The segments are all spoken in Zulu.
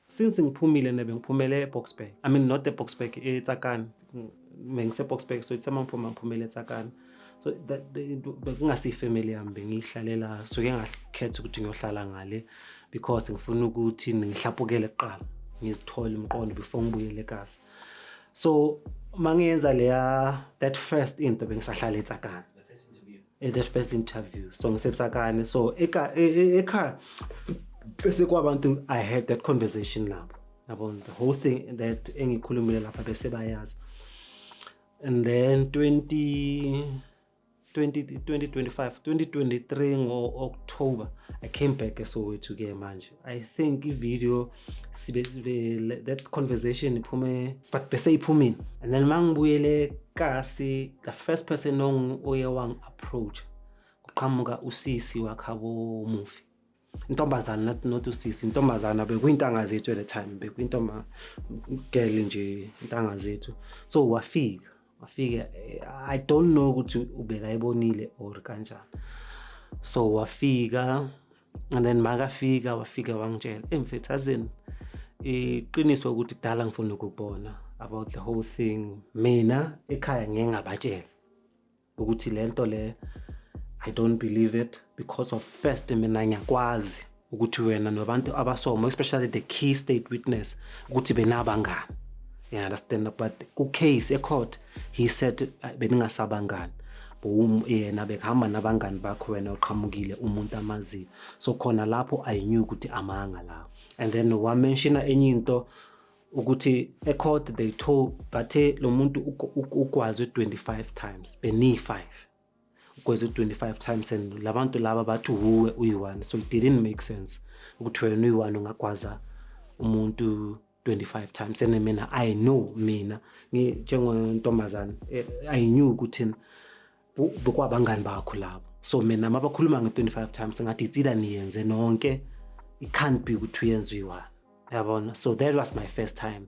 since ngiphumile ne bengiphumele eBoksburg i mean not eBoksburg eTsakani mengiseBoksburg so ithe mangiphuma ngiphumele eTsakani so bekungase ifamily yami bengiyihlalela suke ngakhetha ukuthi ngiyohlala ngale because ngifuna ukuthi ngihlapukele kuqala ngizithole umqondo before ngibuyele eKasi so mangiyenza leya that first into bengisahlala eTsakani in that first interview so ngisetsakane so eka e, e, ekhaya bese kwabantu i had that conversation nabo yabo the whole thing that engikhulumile lapha bese bayazi and then 20 2025 2023 ngo-october i came back esoweto-ke manje I think i-video sibe that conversation iphume but bese iphumile and then uma ngibuyele kasi the first person oye wangi-approach kuqhamuka usisi wakhabo mufi intombazana not not usisi intombazana bekuyintanga zethu at the time bekuyintoma girl nje intanga zethu so wafika wafika eh, i don't know ukuthi ubekayibonile or kanjani so wafika and then makafika wafika wangitshela eyi mfethu azini iqiniso ukuthi kudala ngifuna ukubona about the whole thing mina ekhaya ngeke ngabatshela ukuthi le nto le i don't believe it because of first mina ngiyakwazi ukuthi wena nabantu abasomo especially the key state witness ukuthi benabangani you understand but ku-case ecourt he said ah, beningasabangani boom yena bekuhamba nabangani bakho wena uqhamukile umuntu amaziyo so khona lapho i knew ukuthi amanga lawo and then wamenshina enye into ukuthi ecourt they told bathe lo muntu ukwazi 25 times beniyi-5 Because u 25 times and labantu laba bathi uwe uyi-one so it didn't make sense ukuthi wena uyi-one ungagwaza umuntu 25 times and mina I know mina njengontombazane eh, I knew ukuthi bekwabangani bakho labo so mina mabakhuluma nge-25 times ngathi itsila niyenze nonke it can't be ukuthi uyenza uyi-one yabona so that was my first time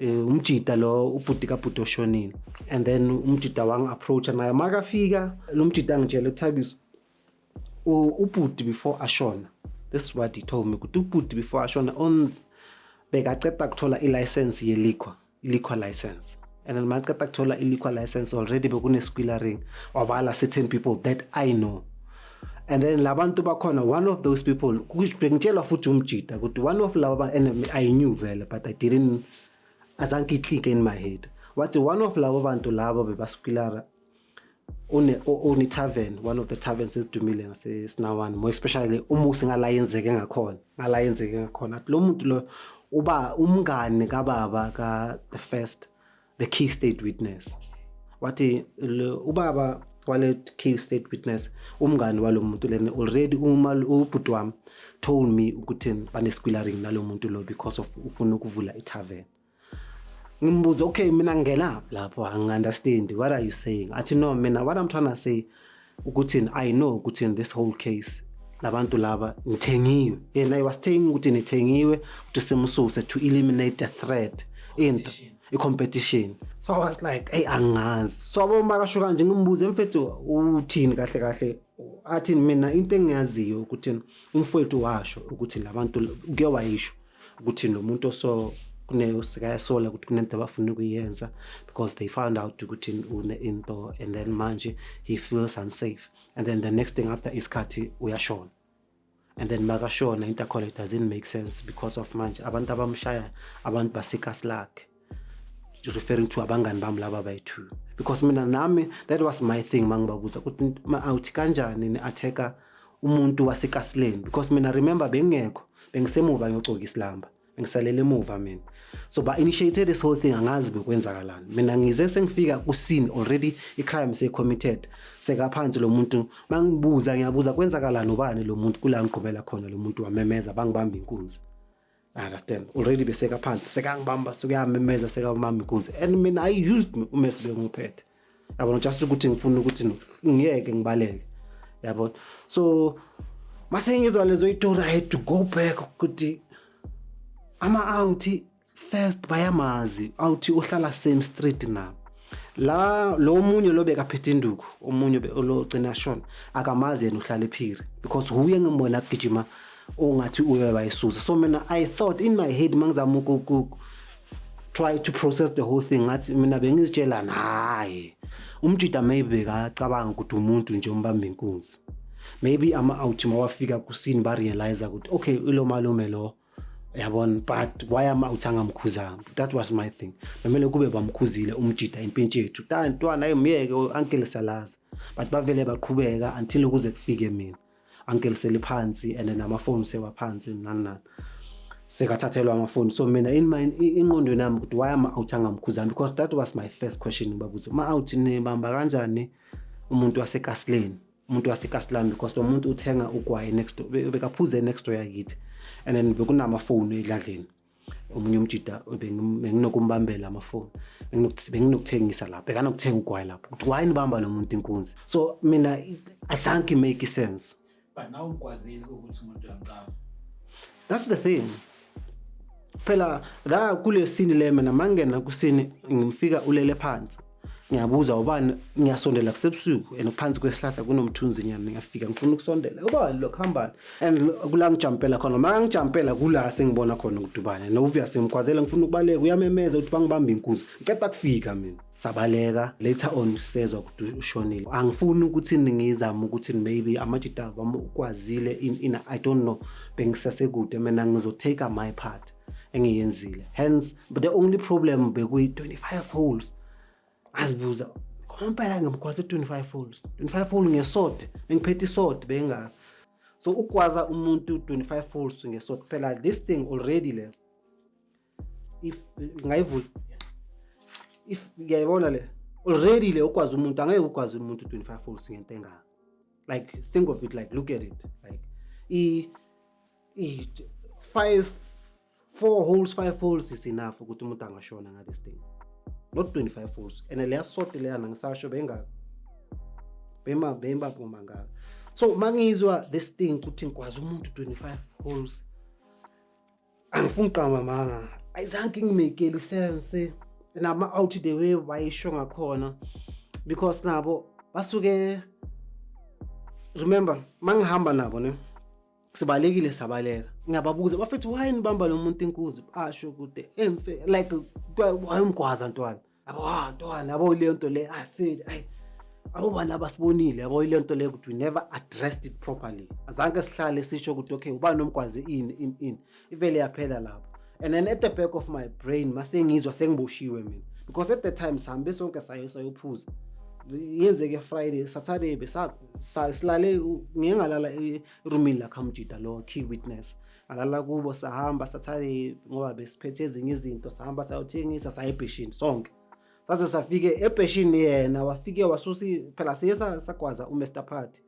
Eh, umjita lo ubhuti kabhuti oshonile and then umjita wangi-approacha naye makafika lo mjita angitshele uthabiso ubhuti before ashona this is what he told me ukuthi ubhuti before ashona on bekaceda kuthola i-license yeliqua iliqua license and then maceda kuthola iliqua license already bekunesikwila ring wabala certain people that i know and then labantu bakhona one of those people bengitshelwa futhi umjida ukuthi one of laba and i knew vele but i didn't azange iclick in my head wathi one of labo bantu labo bebasukilala une une tavern one of the taverns esidumile ngasesinawan more especially umusi ngala yenzeke ngakhona ngala yenzeke ngakhona lo muntu lo uba umngane kababa ka the first the key state witness wathi ubaba wale key state witness umngani walo muntu lena already uma ubhuti wami told me ukuthi banesquillering nalo muntu lo because of ufuna ukuvula itavern ngimbuza okay mina ngingena lapho angiunderstand what are you saying athi no mina what i'm trying to say ukuthi i know ukuthi in this whole case labantu laba nithengiwe yena i was saying ukuthi nithengiwe ukuthi simsuse to eliminate the threat into i-competition so i was like eyi angazi so aboma kasho kanje ngimbuze mfethu uthini kahle kahle athini mina into engiyaziyo ukuthi umfowethu washo ukuthi labantu kuke wayisho ukuthi nomuntu oso sikayasola ukuthi kunento abafuna ukuyenza because they found out ukuthi une-into and then manje he feels unsafe and then the next thing after isikhathi uyashona and then makashona into akhona it doesn't make sense because of manje abantu abamshaya abantu basekasi lakhe referring to abangani bami laba bayi-two because mina nami that was my thing uma ngibabuza ukuthi ma-out kanjani ni-atheka umuntu wasekasileni because mina remember bengingekho bengisemuva ngiyocoka isilamba bengisalele emuva mina so ba-initiated this whole thing angazi bekwenzakalani mina ngize sengifika kusini already i-crime seyicommitted sekaphansi lo muntu uma ngibuza ngiyabuza kwenzakalani ubani lo muntu kula ngigqumela khona lo muntu wamemeza bangibamba inkunzi I understand already beseka phansi sekangibamba sekuyamemeza sekamama inkunzi and mina i used me uma sibenguphethe yabona just ukuthi ngifuna ukuthi ngiyeke ngibaleke yabona so mase ngizwa lezo itori i had to go back ukuthi ama out first bayamazi awuthi uhlala same street nabo la lo munye lo bekaphethe induku omunye lo gcina shona akamazi yena uhlala ephiri because huye ngimbona kugijima ongathi uye wayisusa so mina i thought in my head mangizama uku try to process the whole thing ngathi mina bengizitshela naye umjida maybe kacabanga ukuthi umuntu nje umbamba inkunzi maybe ama-out mawafika kusini barealize ukuthi okay ilo malume lo yabona but why ama-out angamkhuzanga that was my thing bemele kube bamkhuzile umjida impintshi yethu tantwana ayimyeke ankele salazi but bavele baqhubeka until ukuze kufike mina angiliseli phansi and namafoni sewaphansi nani nani sekathathelwa amafoni so mina in my inqondweni yami ukuthi why ama out angamkhuzani because that was my first question ngibabuza ma out nibamba kanjani umuntu wasekasileni umuntu wasekasilani because lo muntu uthenga ugwayi next door bekaphuze next door yakithi and then bekunamafoni edladleni omunye umjida benginokumbambela amafoni benginokuthengisa lapho bekanokuthenga ugwayi lapho ukuthi why nibamba lo muntu inkunzi so mina asanke make sense but now ukwazile ukuthi umuntu uyamcava that's the thing phela la kulesini le mina mangena kusini ngimfika ulele phansi ngiyabuza ubani ngiyasondela kusebusuku and phansi kwesihlahla kunomthunzinyana ngiyafika ngifuna ukusondela ubani lo kuhambani and kula ngijampela khona uma ngijampela kula sengibona khona ukudubane novuya sengimkhwazela ngifuna ukubaleka uyamemeza ukuthi bangibambe inkuzi ngiceda kufika mina sabaleka later on sezwa ukuthi ushonile angifuni ukuthi ngizame ukuthi maybe amajita wami ukwazile in, in, i don't know bengisasekude mina ngizotake my part engiyenzile hence but the only problem bekuyi-25 holes azibuza ngompela ngimgwaze 25 holes 25 hole ngesode bengiphethe isode bengazi so ukugwaza umuntu 25 holes ngesode kuphela this thing already le if ngayivula if ngiyayibona le already le ukwazi umuntu angeke ukwazi umuntu 25 holes ngento engaka like think of it like look at it like i Eight, five, four holes, five holes is enough ukuthi umuntu angashona nga this thing. Not 25 holes. And leya sote leya nangisasho benga bema bemba phuma nga. So mangizwa this thing ukuthi ngikwazi umuntu 25 holes. Angifuni qama manga. Ayizange ngimekeli sense nama out the way bayisho ngakhona because nabo basuke remember mangihamba nabo ne sibalekile sabaleka ngiyababuza bafethu why nibamba lo muntu inkuzi asho kude emfe like wayemgwaza ntwana abo ha ntwana abo le nto le i feel ay abo bani abasibonile abo ile nto le ukuthi we never addressed it properly azange sihlale sisho ukuthi okay ubani omgwaze ini ini ini ivele yaphela lapho and then at the back of my brain masengizwa sengiboshiwe mina because at the time sihambe sonke sayo sayophuza yenzeke friday saturday besilale ngike ngalala erumini lakhamjida lo key witness alala kubo sahamba saturday ngoba besiphethe ezinye izinto sahamba sayothengisa saya ebheshini sonke saze safike ebheshini yena wafike wasusi phela siye sagwaza umr party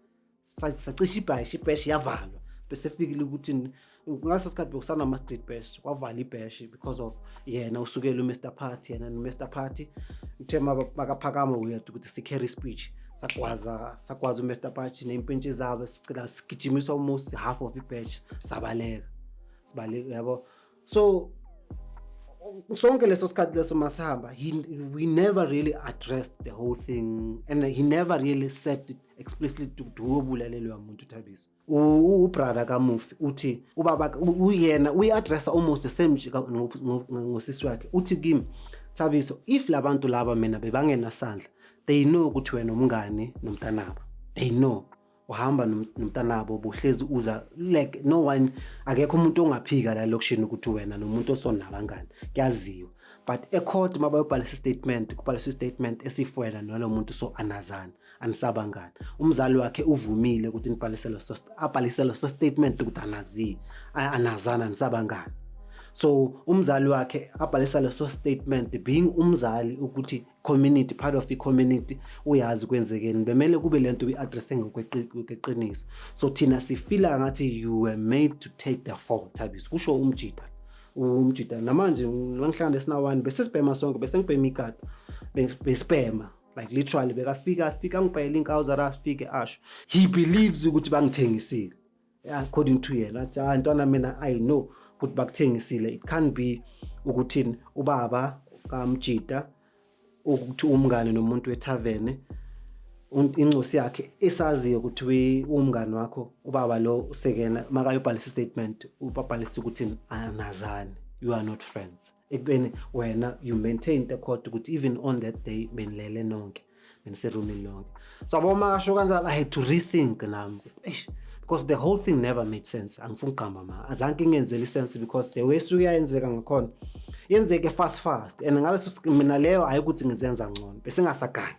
Sa- sacisha ibhashi ibhashi yavalwa bese fikile ukuthi ni- ngaleso sikhathi bekusanama-street bash kwavala ibhashi because of yena usukele umr party yena nomr party uthe maba- makaphakama uyeda ukuthi si-carry speech sagwaza sagwaza umr party ney'mpintshi zabo sicela sigijimiswa almost half of ibhashi sabaleka sibaleka yabo so sonke leso sikhathi leso masihamba he, we never really addressed the whole thing and he never really said it explicitly to uyobulalelwa muntu thabiso ubrother kamufi uthi ubaba uyena uyi-addressa almost the same nje ngosisi wakhe uthi kimi thabiso if labantu laba mina bebangenasandla they know ukuthi wena umngani nomntanabo they know uhamba nomntanabo bohlezi uza like no one akekho umuntu ongaphika la lokushini ukuthi wena nomuntu osona kangani kuyaziwa but ecourt uma bayobhalisa istatement kubhaliswa istatement esifwela nalo muntu so anazana anisabangani umzali wakhe uvumile ukuthi nibhalisele so abhalisele so statement ukuthi anazi anazana anisabangani so umzali wakhe abhalisa leso statement being umzali ukuthi community part of i-community uyazi kwenzekeni bemele kube le nto uyi-addresse ngokweqiniso so thina sifila ngathi you were made to take the fall thabiso kusho umjita umjita namanje mangihlanga nesinawani besesibhema sonke besengibhema ikati besibhema like literally bekafika afika angibhayela inkawu zara afike asho he believes ukuthi bangithengisile according to yena athi hayi ntwana mina i know ukuthi bakuthengisile it can't be ukuthi ubaba kamjita ukuthi umngane nomuntu wethavene incosi yakhe esaziyo ukuthi umngane wakho ubaba lo usekena makayobhalisa istatement ubabhalisa ukuthi anazani you are not friends ekubeni wena you maintain the court ukuthi even on that day benilele nonke beniserumini lonke so abo uma kasho kanjalo i had to rethink nami eish because the whole thing never made sense angifuni ugqamba ma azanke ingenzeli sense because the way esuke yayenzeka ngakhona yenzeke fast fast and ngaleso mina leyo hayi ukuthi ngizenza ngcono besingasagani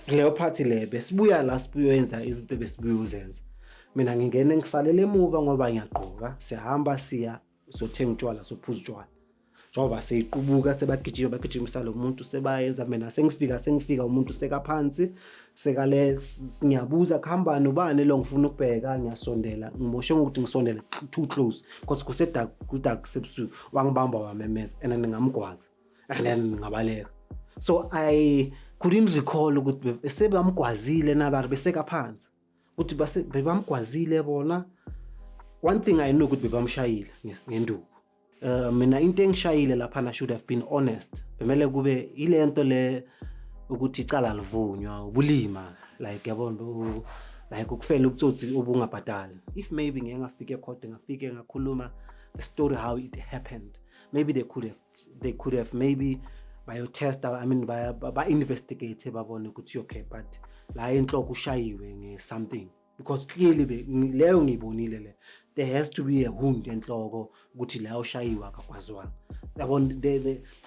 leyo phathi le besibuya la sibuyoyenza izinto besibuyozenza mina ngingene ngisalele emuva ngoba ngiyagqoka sihamba siya sothenga utshwala sophuza utshwala njengoba seyiqubuka sebagijima bagijimisa lo muntu sebayenza mina sengifika sengifika umuntu sekaphansi sekale ngiyabuza kuhamba nobani lo ngifuna ukubheka ngiyasondela ngimoshe ngokuthi ngisondele too close because kusedark kudark sebusuku wangibamba wamemeza and then ngamgwaza and then ngabaleka so i couldn't recall ukuthi sebamgwazile nabari besekaphansi ukuthi base bebamgwazile bona one thing i know ukuthi bebamshayile nge- ngenduku uh, mina into engishayile laphana should have been honest bemele kube ile nto le ukuthi icala livunywa ubulima like yabona u- like ukufela ubutsotsi obungabhadali if maybe ngeke ngafike ekhode ngafike ngakhuluma the story how it happened maybe they could have they could have maybe bayotesta i mean ba-investigate babone ukuthi okay but la enhloko ushayiwe nge-something because clearly leyo ngiyibonile le there has to be a wound enhloko ukuthi la ushayiwe akakwazwanga yabona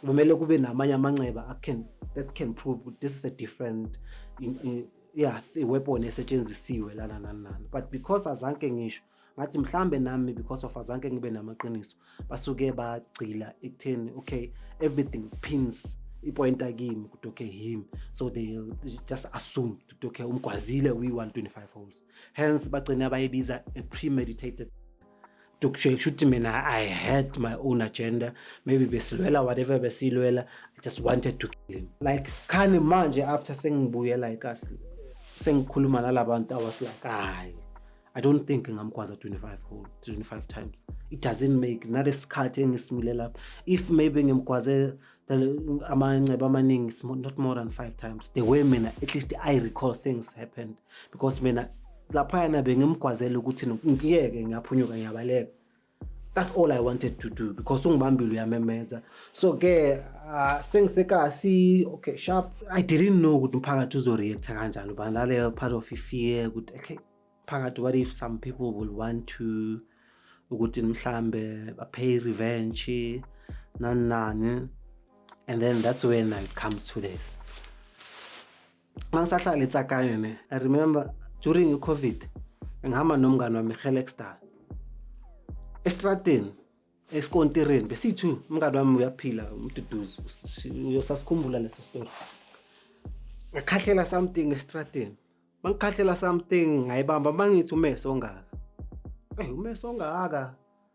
kumele kube namanye amanxeba can, that can prove ukuthi this is a different in, in, yeah weapon esetshenzisiwe lana nanani but because azanke ngisho ngathi mhlambe nami because of azanke ngibe namaqiniso basuke bagcila ekutheni okay everything pins ipointa kimi ukuthi okay him so they just assume ukuthi okay umgwazile uyi-125 holes hence bagcine abayibiza a premeditated kusho ukuthi mina i had my own agenda maybe besilwela whatever besilwela i just wanted to kill him like khani manje after sengibuyela ikasi sengikhuluma nalabantu i was like hayi i don't think ngamgwaza 25 hole 25 times it doesn't make nalesikhathi engisimile lapho if maybe ngimgwaze amanceba amaningi not more than five times the way mina at least i recall things happened because mina laphayana bengimgwazela ukuthi ngiyeke ngiyaphunyuka ngiyabaleka that's all i wanted to do because ungibambile uyamemeza so ke uh, sengisekasi okay sharp i didn't know ukuthi umphakathi uzoreacta kanjani uba naleyo part of ifear ukuthi okay phakathi what if some people will want to ukuthi mhlambe bapay revenge nani nani and then that's when it comes to this mangisahlala etsakane ne i remember during i-covid ngihamba nomngane wami helexdal estradini esikontirini besiyi-two umngane wami uyaphila umduduzi uyosasikhumbula leso story ngakhahlela something estradini mangikhahlela something ngayibamba mangithi umese ongaka eyi umese ongaka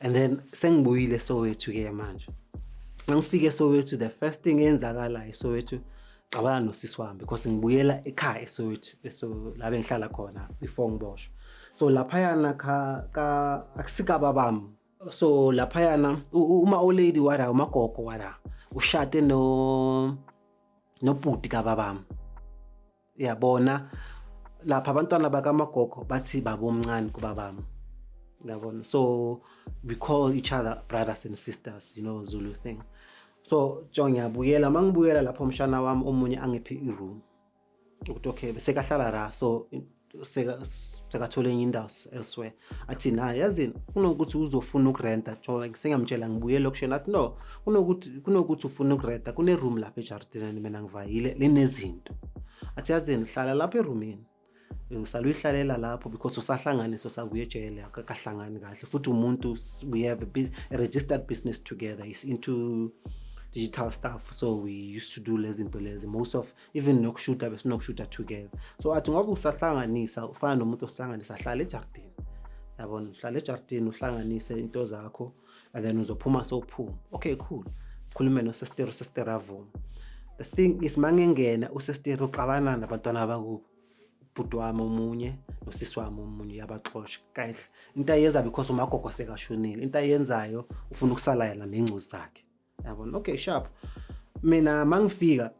and then sengibuyile sowethu ke manje ngangifike sowethu the first thing eyenzakalayo sowethu cabana nosisi wami because ngibuyela ekhaya esowethu eso la bengihlala khona before ngiboshwe so laphayana ka, ka akusikaba bami so laphayana uma old lady wara umagogo wara ushade no nobhuti kababami yabona lapha abantwana bakamagogo bathi babomncane kubabami yabona so we call each other brothers and sisters you know zulu thing so jo ngiyabuyela uma ngibuyela lapho umshana wami omunye angiphe i-room ukuthi okay sekahlala ra so sekathole enye indawo elsewhere athi naye yazini kunokuthi uzofuna ukurenta njengoba ngisengamtshela ngibuye elokishini athi no kunokuthi kunokuthi ufuna ukurenta kuneroom lapha ejardineni mina ngivayile linezinto athi yazini hlala lapha erumini usale uyihlalela lapho because usahlanganiso sakuye ejele akahlangani kahle futhi umuntu we have a, a registered business together is into digital stuff so we used to do lezi zinto lezi most of even nokushuta besinokushuta together so athi ngoba usahlanganisa ufana nomuntu osihlanganisa hlala ejardini yabona hlala ejardini uhlanganise into zakho and then uzophuma sowuphuma okay cool khulume nosestero sestero avuma the thing is mangengena usestero uxabana nabantwana bakubo ubhuti wami omunye nosisi wami omunye uyabaxosha kahle into ayenza because umagogo sekashonile into ayenzayo ufuna ukusala yena nengcuzi zakhe yabona okay sharp mina mangifika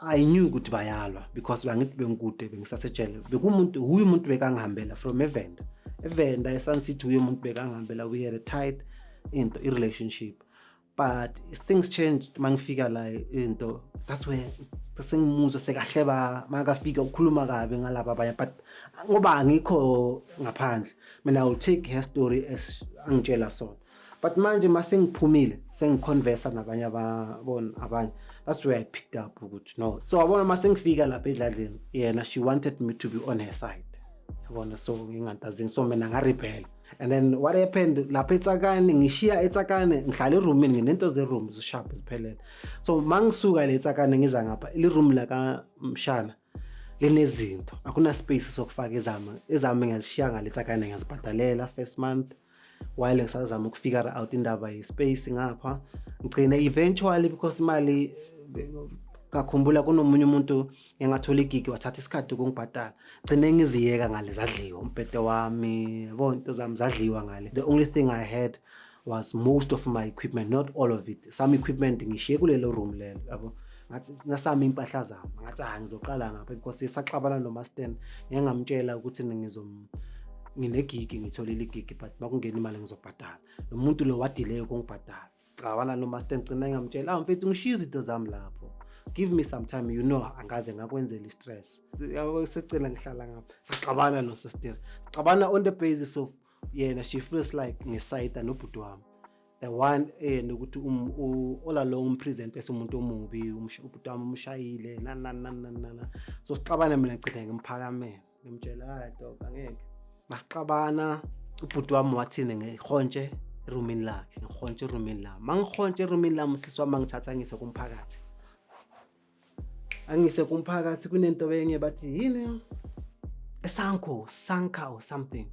i knew ukuthi bayalwa because bangithi bengikude bengisasejele bekumuntu huye umuntu bekangihambela from evenda evenda esun city huye umuntu bekangihambela we had a tight into i-relationship but things changed mangifika la into that's where sengimuzwa sekahle ba makafika ukhuluma kabi ngalaba abanye but ngoba angikho ngaphandle mina i will take her story as angitshela sona but manje masengiphumile sengiconversa nabanye ababona abanye that's where i picked up ukuthi no so wabona masengifika lapha edladleni yena she wanted me to be on her side yabona so ngingantazini so mina ngarebhela and then what happened lapha etsakane ngishiya etsakane ngihlala eroomini nginento zeroom zishabhe ziphelele so ma ngisuka le etsakane ngiza ngapha liroom lakamshana linezinto akuna-space sokufaka ezami ezami ngiyazishiya ngale sakane ngiyazibhadalela first month while ngisazama ukufigure out indaba ye-space ngapha ngigcine eventually because imali ngakhumbula kunomunye umuntu engathola igigi wathatha isikhathi ukungibhadala gcine ngiziyeka ngale zadliwa umbhede wami yabo into zami zadliwa ngale the only thing i had was most of my equipment not all of it some equipment ngishiye kulelo room lelo yabo ngathi nasami impahla zami ngathi ah ngizoqala ngapha because isaxabana nomasten ngeke ngamtshela ukuthi ngizom nginegigi ngitholile igigi but makungena imali ngizobhadala lo muntu lo wadileye ukungibhadala sicabana nomasten gcina ngamtshela ah mfethu ngishiye izinto zami lapho give me some time you know angaze ngakwenzela i-stress yabo secela ngihlala ngapha saxabana nosesteri sixabana on the basis of yena she feels like ngisayida nobhuti wami the one and eh, ukuthi um, all along umpresent esumuntu omubi ubhuti wami umshayile nanananana so sixabane mina ngicitha ngimphakamele ngimtshela hayi dog angeke masixabana ubhuti wami wathini ngihontshe erumini lakhe ngihontshe erumini lami mangihontshe erumini lami usisi wami angithatha ngise kumphakathi angise kumphakathi kunento enye bathi yini sanko sanka or something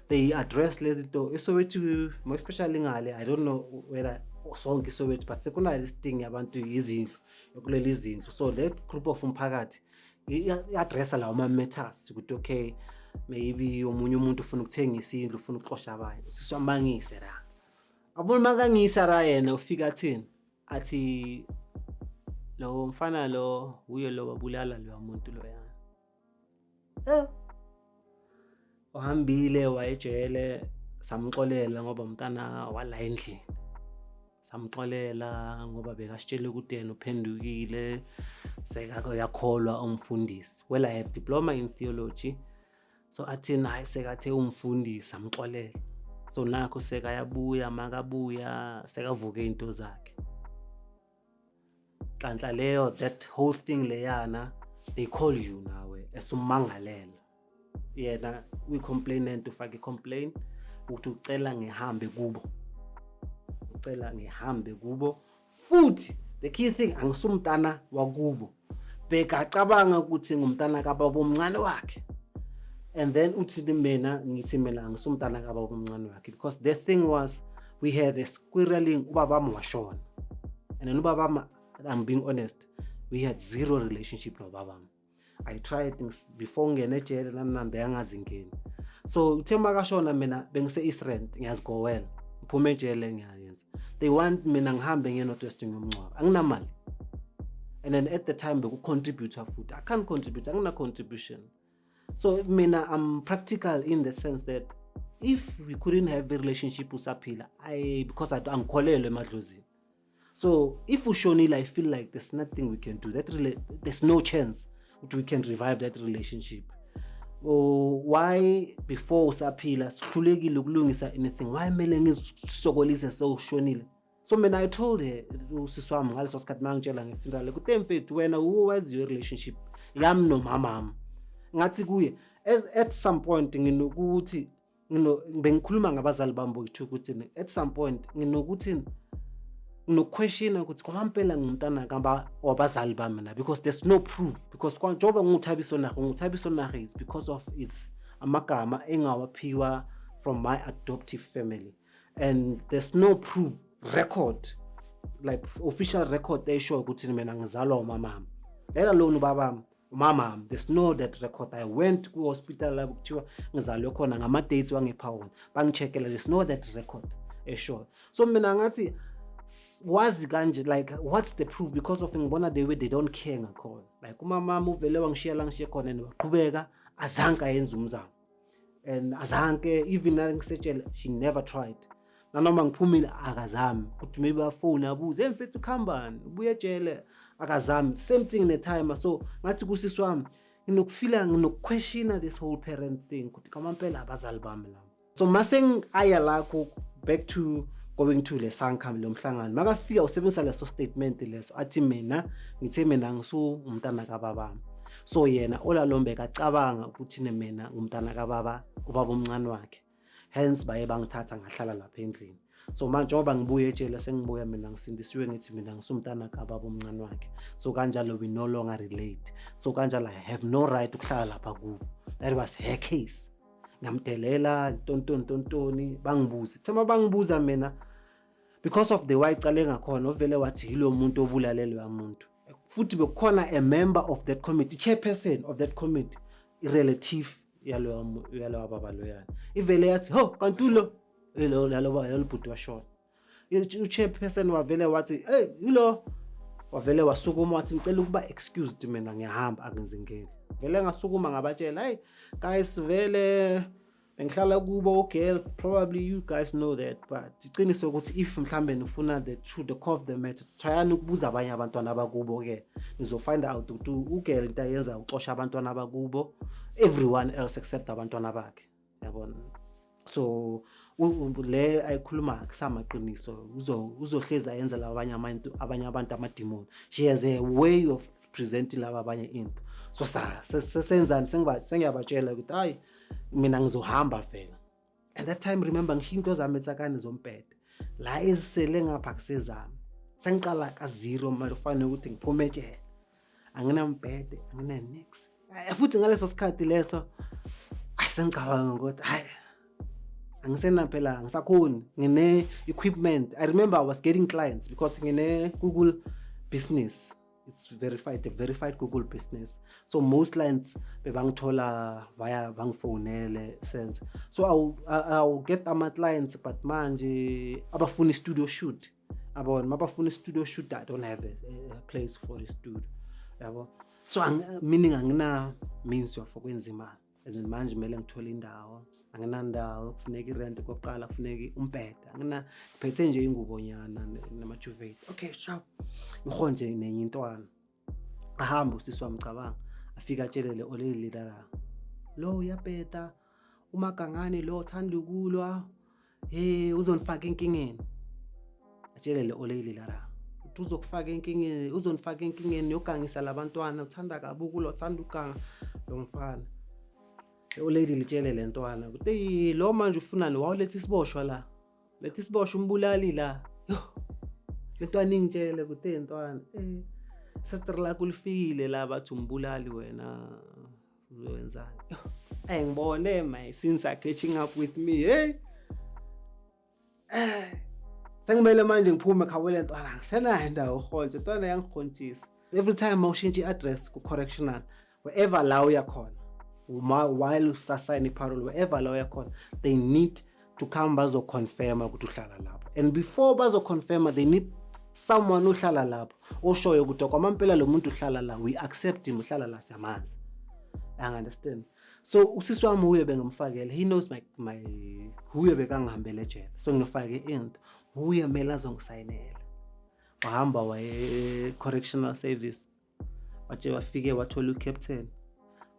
they address lezi to isowethi more especially ngale i don't know whether sonke isowethi but sekunayo listing yabantu yizindlu yokuleli izindlu so le group of umphakathi i-addressa lawo ma-matters ukuthi okay maybe omunye umuntu ufuna ukuthengisa indlu ufuna ukuxosha abanye usiswamangise ra abona makangisa ra yena ufika athini athi lo mfana lo uye lo wabulala loya muntu loyana eh uhambile wayejele samxolela ngoba umntana wala endlini samxolela ngoba bekasitshele ukuthi yena uphendukile sekake uyakholwa umfundisi well i have diploma in theology so athini hayi sekathe umfundisi amxolele so nakho sekayabuya makabuya sekavuke into zakhe nhlanhla leyo that whole thing leyana they call you nawe esummangalela yena uyi-complainant ufake i-complain ukuthi ucela ngihambe kubo ucela ngihambe kubo futhi the key thing angisumntana wakubo bheka acabanga ukuthi ngumntana kababa omncane wakhe and then uthi mina ngithi mina angisumntana kababa omncane wakhe because the thing was we had a squirreling ubabami washona and then ubabami i'm being honest we had zero relationship nobabami I tried before ngingena ejele nami nambe yangazi ngini so uthe makashona mina bengise East Rand ngiyazigowela ngiphuma ejele ngiyayenza they want mina ngihambe ngiye North West ngiyomncwaba anginamali and then at the time bekucontributor futhi i can't contribute angina contribution so mina i'm practical in the sense that if we couldn't have a relationship usaphila i because angikholelwe emadlozini so if ushonile i feel like there's nothing we can do that rela- there's no chance ukuthi we can revive that relationship or why before usaphila sihlulekile ukulungisa anything why kumele ngizisokolise sewushonile so mina i told her usisi wami ngaleso sikhathi mangitshela ngefuneral kuthe mfethu wena uwaziyo i-relationship yami nomamami ngathi kuye at, at some point nginokuthi bengikhuluma ngabazali bami bokuthi ukuthi at some point nginokuthi nginokuquestiona ukuthi kwampela ngumntana kamba wabazali bami na because there's no proof because njengoba nguthabiso nahe nguthabiso nahe is because of its amagama engawaphiwa from my adoptive family and there's no proof record like official record eshoyo ukuthi mina ngizalwa umamami lena lona ubabami umama the snow that record i went ku-hospital lapho kuthiwa ngizalwe khona ngama-dates wangipha wona bangicheckela the snow that record eshoyo so mina ngathi wazi kanje like what's the proof because of ngibona the way they don't care ngakhona like umamama uvele wangishiya la ngishiye khona and waqhubeka azange ayenza umzamo and azanke even nangisetshela she never tried nanoma ngiphumile akazami kuthi maybe afone abuze emfethu khambani ubuye ejele akazami same thing netime so ngathi kusisi wami nginokufila nginokuquestiona this whole parent thing kuthi kamampela abazali bami lami so mase ngiaya lakho back to going to lesankam lo mhlangano makafika usebenzisa leso statement leso athi mina ngithe mina ngisu umntana kababami so yena olalombe kacabanga ukuthi ne mina ngumntana kababa ubaba omncane wakhe hence baye bangithatha ngahlala lapha endlini so manje njengoba ngibuye ejele sengibuya mina ngisindisiwe ngithi mina ngisumntana kababa omncane wakhe so kanjalo we no longer relate so kanjalo i have no right ukuhlala lapha kubo that was her case ngamdelela ntontoni ntontoni bangibuze thema bangibuza mina because of the way icala engakhona ovele wathi yilo muntu obulalelwe amuntu futhi bekukhona a member of that committee chairperson of that committee irelative yaloyo yalowa baba loyana ivele yathi ho kanti ulo elo laloba yalobhuti washona uchairperson wavele wathi hey ulo wavele wasukuma wathi ngicela ukuba excused mina ngiyahamba angenzingeli vele ngasukuma ngabatshela hey guys vele bengihlala kubo ugirl probably you guys know that but iqiniso ukuthi if mhlambe nifuna the true the core of the matter tryani ukubuza abanye abantwana abakubo ke nizofind out ukuthi ugirl into ayenza uxosha abantwana abakubo everyone else except abantwana bakhe yabona so le ayikhuluma kusamaqiniso uzohlezi ayenza labanye abantu abanye abantu amadimoni she has a way of presenting laba abanye into so sasenzani sengiyabatshela ukuthi hayi mina ngizohamba vela at that time remember ngishiya into zami etsakane zompede la ezisele ngapha kusezami sengiqala kazero manje kufanele ukuthi ngiphume etshela anginampede anginanix futhi ngaleso sikhathi leso ayi sengicabanga ukuthi hayi angisenaphela ngisakhoni ngine equipment i remember i was getting clients because ngine google business it's verified a verified google business so most clients bebangithola via bangifonele sense so I'll, I'll get ama-clients but manje abafuna i-studio shoot abona mabafuna i-studio shoot i don't have a, a place for a studio yabo so ang, meaning angina means yofokwenza imali as in manje kumele ngithole indawo anginandawo kufuneka irent kokuqala kufuneka umbheda angina ngiphethe nje ingubonyana namajuvate okay sharp ngihole nje nenye intwana ahambe usisi wami cabanga afike atshelele olelilala lo uyabheda umagangane lo uthanda ukulwa Hey uzonifaka enkingeni. Atshele le oleyile lara. Uthi uzokufaka enkingeni, uzonifaka enkingeni yogangisa labantwana, uthanda kabi ukula, uthanda uganga lo mfana. Oleyile litshele le ntwana ukuthi lo manje ufunani wawuletha isiboshwa la. Letha isiboshwa umbulali la. Yo. Le ntwana ingitshele ukuthi hey ntwana. Eh. Sastre lakho lifikile la bathi umbulali wena. uzoyenzani ayi ngibone my sins are catching up with me hey eh sengimele manje ngiphume khawele ntwana ngisenayo indawo uholje ntwana yangihontshisa every time mawushintsha i-address ku-correctional wherever la uyakhona while usasayina i-parole wherever la uyakhona they need to come bazo confirma ukuthi uhlala lapho and before bazo confirma they need someone ohlala lapho oshoyo ukuthi okwamampela lo muntu uhlala la we accept him uhlala la siyamazi i understand so usisi wami uye bengamfakela he knows my my uye bekangihambele ejele so ngifake into uye mele azongisayinela wahamba waye correctional service waje wafike wathola ucaptain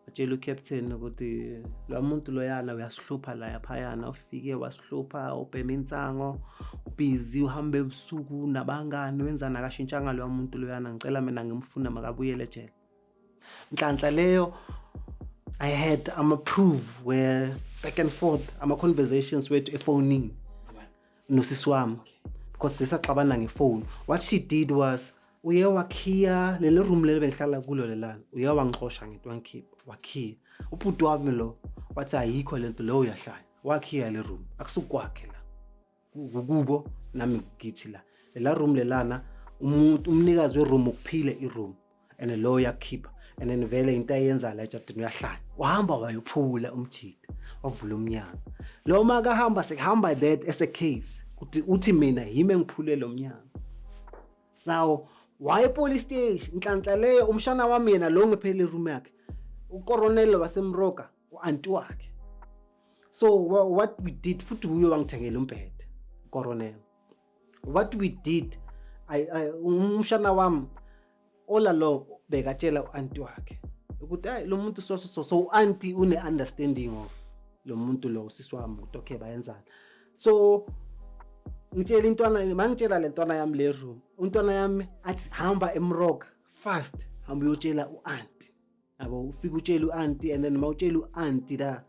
watshela ucaptain ukuthi lo muntu loyana uyasihlupha la yaphayana ufike wasihlupha ubhema insango ubhizi uhambe ebusuku nabangani wenzani akashintshanga loya muntu loyana ngicela mina ngimfune makabuyele ejele nhlanhla leyo i had ama-prove where back and forth ama-conversations wethu efonini nosisi wami because sisaxabana ngefoni what she did was uye wakhiya leli room leli bengihlala kulo lelana uye wangixosha ngento wangikhipha wakhiya ubhuti wami lo wathi ayikho lento leyo uyahlala wakhiya le room akusukwakhe la kukubo nami ngithi la lela room lelana umuntu umnikazi weroom ukuphile iroom and lo uyakhipha and then vele into ayenza la ejardini uyahlala wahamba wayophula umjida wavula umnyango lo ma kahamba sekuhamba that as a case uthi uthi mina yimi engiphule lo mnyango sawo waye police station inhlanhla leyo umshana wami yena lo ngiphele room yakhe ukoronelo wasemroka uanti wakhe so what we did futhi uyo wangithengela umbhede koronelo what we did umshana wami all along bekatshela u-anti wakhe ukuthi hayi lo muntu so so so u-anti une-understanding of lo muntu lo usisi wami ukuthi okay bayenzani so ngitshela intwana mangitshela le ntwana yami le room untwana yami athi hamba emrock fast hamba uyotshela u-anti yabo ufike utshele u-anti and then uma utshele u-anti la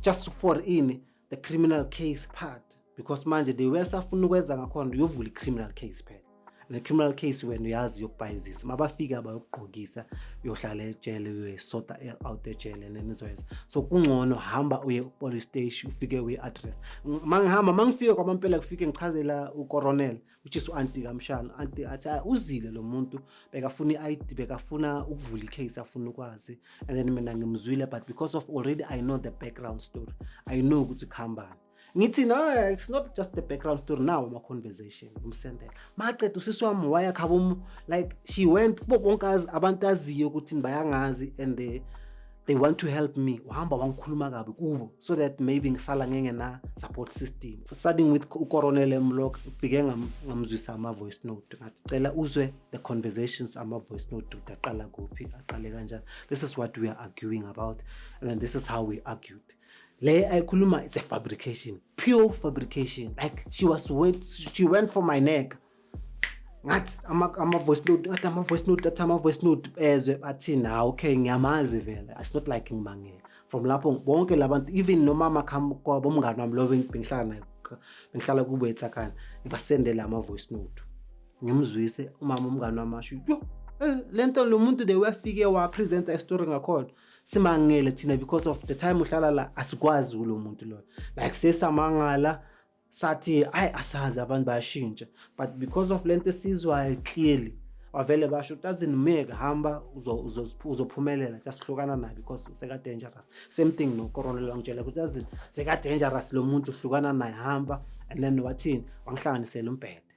just for ini the criminal case part because manje the way safuna ukwenza ngakhona uyovula i-criminal case phela ne-criminal case wena uyazi yokubhayizisa uma bafike abayokugqokisa uyohlala ejele uyoyisota out ejele and then izoyenza so kungcono hamba uye police station ufike uyi-address ma ngihamba ma ngifike kwamampela kufike ngichazela ucoronel which is u-anti kamshana u-anti athi ah, uzile lo muntu bekafuna i-id bekafuna ukuvula i-case afuna ukwazi and then mina ngimzwile but because of already i know the background story i know ukuthi kuhambani ngithi no it's not just the background story now ama-conversation ngimsendela maqeda usisi wami wayakhabomu like she went kubo bonke abantu aziyo ukuthi bayangazi and the they want to help me uhamba wangikhuluma kabi kubo so that maybe ngisala ngenge na support system starting with ucoronel emlock ufike ngamzwisa ama-voice note ngathi cela uzwe the conversations ama-voice note ukuthi aqala kuphi aqale kanjani this is what we are arguing about and then this is how we argued le ayikhuluma it's a fabrication pure fabrication like she was went, she went for my neck ngathi ama-voice note athi ama-voice note athi ama-voice note bezwe bathini hawu okay ngiyamazi vele it's not like ngibangela from lapho bonke labantu even nomama kwabo umngane wami lo bengihlala naye bengihlala kubo etsakana ngibasendele ama-voice note ngimzwise umama umngane wami asho yo eh, le nto lo muntu de wafike wapresenta isitori ngakhona simangele thina because of the time uhlala la asikwazi kulo muntu loyo like sesamangala sathi ayi asazi abantu bayashintsha but because of lento esizwayo clearly wavele basho doesn't make hamba uzophumelela just hlukana naye because seka dangerous same thing no corona langitshela ukuthi doesn't seka dangerous lo muntu hlukana naye hamba and then wathini wangihlanganisela umbhede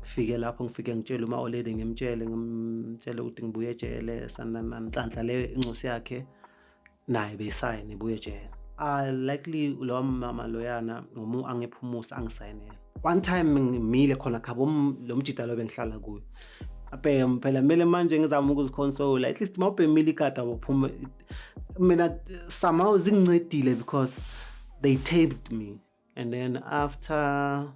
ngifike lapho ngifike ngitshele uma oledi ngimtshele ngimtshele ukuthi ngibuye ejele sanananhlanhla le incosi yakhe naye beyisayine ibuye ejele ah likely lo mama loyana ngomu angephumusa angisayinela one time ngimile khona khabo lo mjita lo bengihlala kuyo abhema phela mele manje ngizama ukuziconsola at least mawubhemile ikada waphuma mina somehow zingincedile because they taped me and then after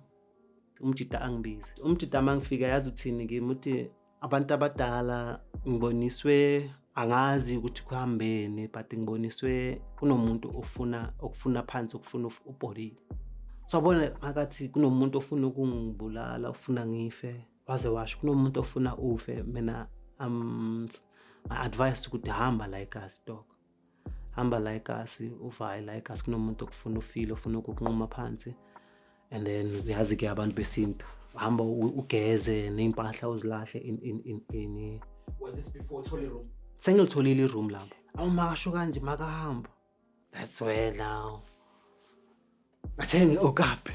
umjita angibizi umjita uma ngifika yazi uthini kimi uthi abantu abadala ngiboniswe angazi ukuthi kuhambeni but ngiboniswe kunomuntu ofuna okufuna phansi okufuna ubholile so abona makathi kunomuntu ofuna ukungibulala ofuna ngife waze washo kunomuntu ofuna ufe mina um my advice ukuthi hamba like us dog hamba la egasi uva hayi la egasi kunomuntu okufuna ufile ofuna ukukunquma phansi and then uyazi ke abantu besintu hamba ugeze ney'mpahla uzilahle in, in, in, in. Was this before uthole room? sengilitholile iroom lapho awu makasho kanje makahamba that's where now athe ngi-okaphi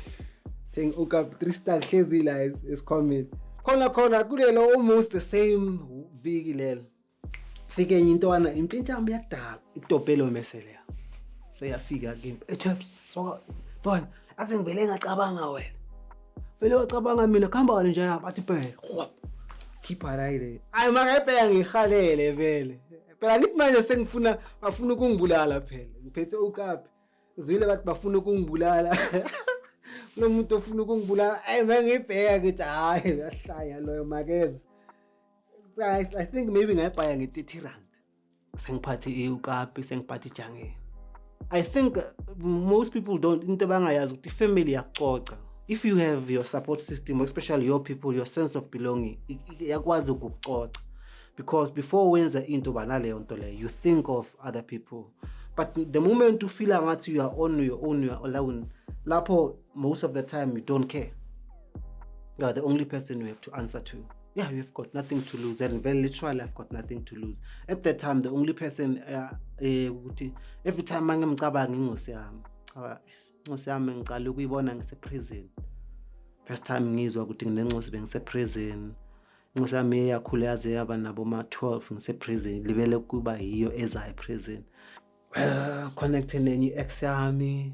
athe ngi-okaphi three star kuhlezi la esikhwameni khona khona kulelo almost the same viki lelo fike enye intwana impintshamba yadala itopelo meseleya seyafika kimi echaps so ntwana aze ngivele ngacabanga wena vele wacabanga mina kuhamba kani nje athi bheke khipha la ile ayi makayibheka ngihalele vele phela ngithi manje sengifuna bafuna ukungibulala phela ngiphethe ukapi ngizwile bathi bafuna ukungibulala kulo muntu ofuna ukungibulala ayi mangiyibheka ngithi hhayi uyahlanya loyo makeze I, I think maybe ngayibhaya nge-30 rand sengiphathe iukapi sengiphathe ijangeni i think uh, most people don't into bangayazi ukuthi ifamily yakucoca if you have your support system especially your people your sense of belonging yakwazi ukukucoca because before wenza into banaleyo nto leyo you think of other people but the moment ufila ngathi you are on your own you are alone lapho most of the time you don't care you are the only person you have to answer to yeah you've got nothing to lose and very literally i've got nothing to lose at that time the only person uh, eh, ukuthi uh, every time mangimcabanga ingosi yami cha ingosi yami ngiqala ukuyibona ngiseprison first time ngizwa ukuthi nginencosi bengiseprison incosi yami eyakhula yaze yaba nabo ma-12 ngiseprison libele kuba yiyo eza eprison well connecte nenye i-ex yami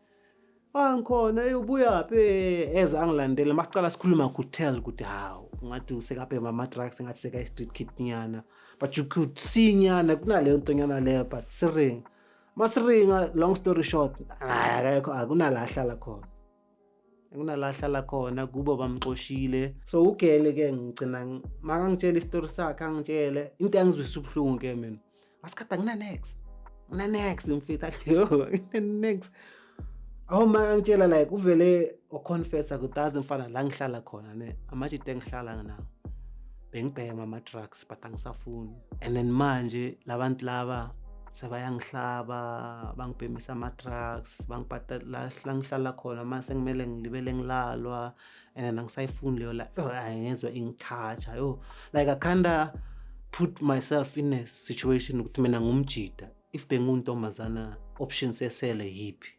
angikhona eyi ubuyaphi eze angilandele masicala sikhuluma kutel ukuthi hawu ungathi usekabhema ama-drugs engathi sekayi-street kit nyana but you could see nyana kunaleyo nto nyana leyo but siringa masiringa long story short akekho akunala ahlala khona akunala ahlala khona kubo bamxoshile so ugele ke ngigcina makangitshele isitori sakhe angitshele into yangizwisa ubuhlungu ke mina masikade anginanex nginanex mfethu ayo nginanex awu ma angitshela like uvele waconfessa ukuthi azi mfana la ngihlala khona ne amajita engihlala nginawo bengibhema ama-drugs but angisafuni and then manje labantu laba sebayangihlaba bangibhemisa ama-drugs bangibhadala la ngihlala khona uma sengimele ngilibele ngilalwa and then angisayifuni leyo life oh, angezwa ingithatha yo like i kinda put myself in a situation ukuthi mina ngumjida if benguntombazana option sesele yiphi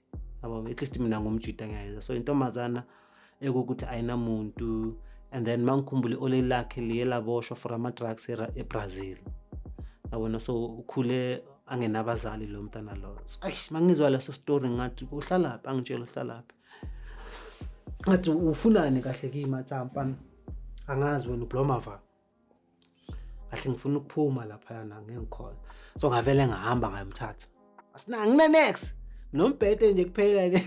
yabo at least mina ngumjida ngiyayeza so intombazana ekukuthi ayinamuntu and then mangikhumbule ole lakhe liye laboshwa for ama-drugs ebrazil yabona so ukhule angenabazali lo mntana loyo so ayi mangizwa leso story ngathi uhlalaphi angitshela uhlalaphi ngathi ufunani kahle kimatsampa angazi wena ubloma va kahle ngifuna ukuphuma laphayana ngengikhona so ngavele ngahamba ngayomthatha asinangine next nombhede nje kuphela le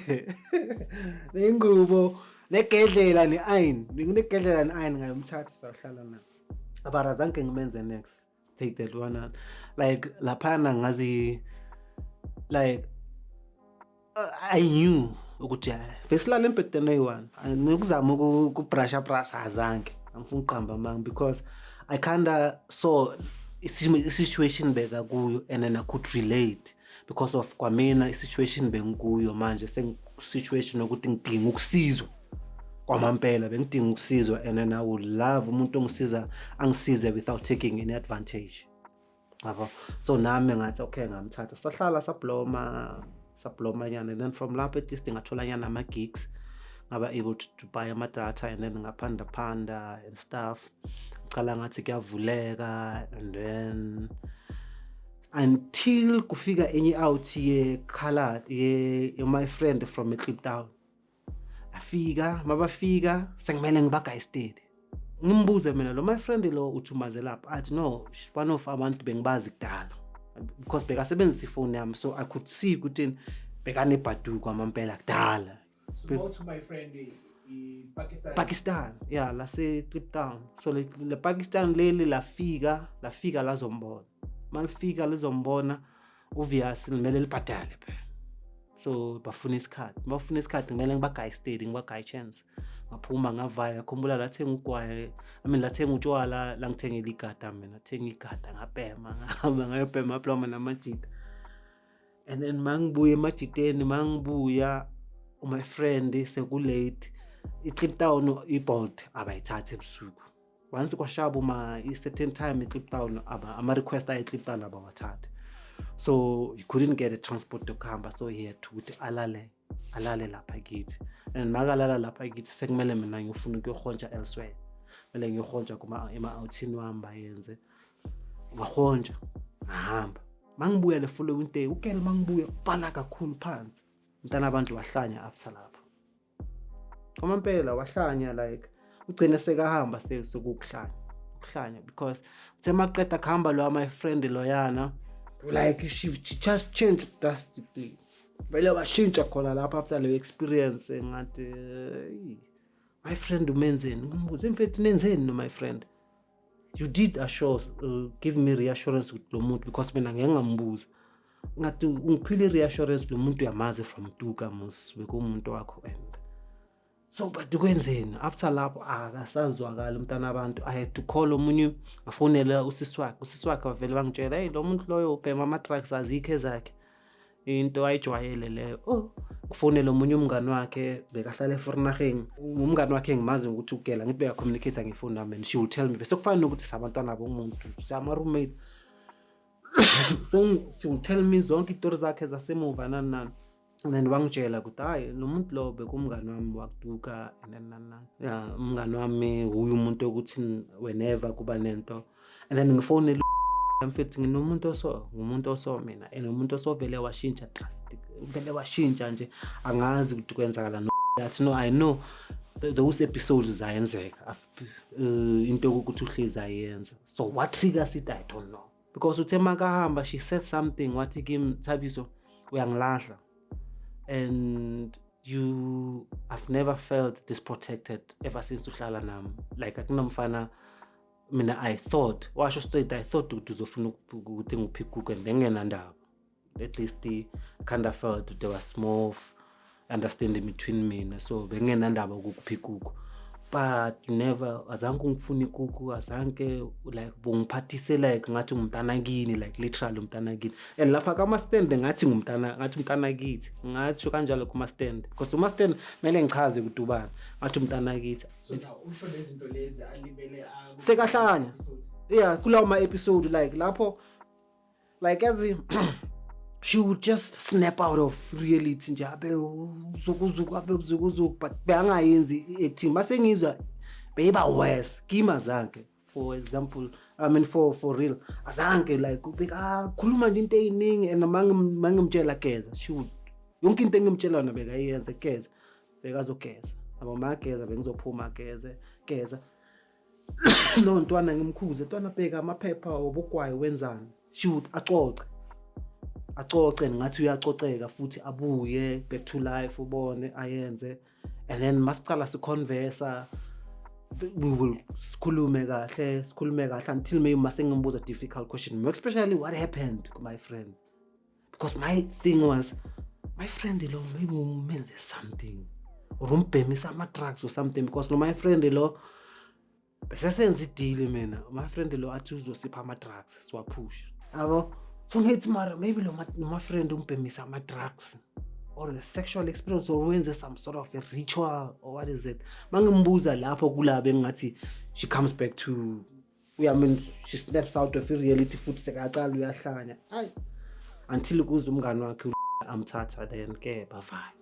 nengubo negedlela ne-iron nginegedlela ne-iron ngayomthatha sahlala na abarazange ngimenze next take that one out like laphana ngazi like uh, i knew ukuthi hayi besilala embhedeni oyi-one nokuzama ukubrasha brasha azange angifuna ukuqamba amanga because i kinda saw i-situation beka kuyo and then i could relate because of kwamina i-situation bengikuyo manje sengisituation yokuthi ngidinga ukusizwa kwamampela bengidinga ukusizwa and then i would love umuntu ongisiza angisize without taking any advantage yabo so nami ngathi okay ngamthatha sahlala sabloma sabloma nyana and then from lapho at least ngathola nyana ama-gigs ngaba able to, to buy amadata and then ngaphanda phanda and stuff cala ngathi kuyavuleka and then until kufika enye out ye color ye, ye my friend from eClip Town afika mabafika sengimele ngibaga estate ngimbuze mina lo my friend lo uthumazelaphi athi no one of abantu bengibazi kudala because bekasebenzisa ifoni yami so i could see ukuthi bekanebhaduko amampela kudala Go to my friend eh, Pakistan. Pakistan yeah lase Cape Town so le, le Pakistan leli lafika lafika lazombona malifika lizombona uVias limele libhadale phela so bafuna isikhathi bafuna isikhathi kumele ngibagaye steady ngibagaye chance ngaphuma ngavaya ngakhumbula lathenga ugwaye i mean lathenga utshwala langithengela igada mina thenga igada ngabhema ngahamba ngayobhema aploma namajita and then mangibuye emajiteni mangibuya my friend sekulate i-clip town i-bolt abayithathi ebusuku once kwashaba uma i-certain time i-clip town ama-request aye-clip town abawathathi so he couldn't get a transport yokuhamba so he had to ukuthi alalele alale lapha kithi and makalala lapha kithi sekumele mina ngiyofuna ukuyohontsha elsewhere kumele ngiyohontsha ema-outhini wami bayenze ngahontsha ngahamba mangibuya le following day ukele mangibuya bhala kakhulu phansi mntana abantu wahlanya after lapho uma mpela wahlanya like ugcine sekahamba sekukuhlanya ukuhlanya because uthe maqeda kuhamba loya my friend loyana like she just changed drastically vele washintsha khona lapho after leyo experience engathi eh, my friend umenzeni ngimbuze imfethu nenzeni no my friend you did assure uh, give me reassurance ukuthi lo muntu because mina ngeke ngambuza ngathi ungiphile reassurance lo muntu uyamazi from tuka mus bekumuntu wakho and so but kwenzeni after lapho akasazwakali umntana abantu i had to call omunye afonele usisi wakhe usisi wakhe wavele wangitshela heyi lo muntu loyo ubhema ama-drugs azikho ezakhe into ayijwayele leyo oh kufonele omunye umngani wakhe bekahlala eforinaheni umngani wakhe engimazi ngokuthi ugela ngithi beyacommunicate ngefoni nami and she will tell me bese kufana nokuthi sabantwana bomuntu sama-roommate so she will tell me zonke itori zakhe zasemuva nani nani and then wangitshela ukuthi hayi lo muntu lo bekumngani wami wakuduka and then nana ya umngani wami wuye umuntu okuthi whenever kuba nento and then ngifonele mfethu nginomuntu oso ngumuntu oso mina and umuntu osovele washintsha drastic vele washintsha nje angazi ukuthi kwenzakala no that no i know those episodes zayenzeka uh, into ukuthi uhlezi ayenza so what triggers it i don't know because uthe makahamba she said something wathi kim thabiso uyangilahla and you i've never felt disprotected ever since uhlala nami like akunomfana mina i thought washo straight i thought ukuthi uzofuna ukuthi ngiphikuke ngengenandaba at least kind of felt there was small understanding between mina so bengenandaba ukuphi kuko but never azange ungifune ikuku azange like bungiphathise like ngathi ngumntana kini like literally umntana kini and lapha kama-stand ngathi ngumntana ngathi umntana kithi ngatsho kanjalo kuma-stand because uma-stand kumele ngichaze kudubana ngathi umntana kithi sekahlanya ya kulawo ma-episode like lapho like as in she would just snap out of reality nje abe uzukuzuku abe uzukuzuku but beyangayenzi i-acting mase ngizwa beyiba worse kimi azange for example i mean for for real azange like ubekakhuluma ah, nje into eyiningi and mangimtshela geza she would yonke into engimtshela yona bekayenze geza bekazogeza abo mageza bengizophuma geze geza no ntwana ngimkhuze ntwana bheka amaphepha obugwayi wenzani shoot acoce acoce ngathi uyacoceka futhi abuye back to life ubone ayenze and then masicala siconversa we will sikhulume kahle sikhulume kahle until maybe masengimbuza difficult question especially what happened my friend because my thing was my friend lo maybe umenze something or umbhemisa ama-drugs or something because no my friend lo besesenza idili mina my friend lo athi uzosipha ama-drugs siwaphusha yabo so ngithi mara maybe lo my friend umbhemisa ama-drugs or a sexual experience or wenze some sort of a ritual or what is it mangimbuza lapho kulaba engingathi she comes back to uyamin she snaps out of reality futhi sekaqala uyahlanya ayi until kuze umngane wakhe amthatha then ke bavale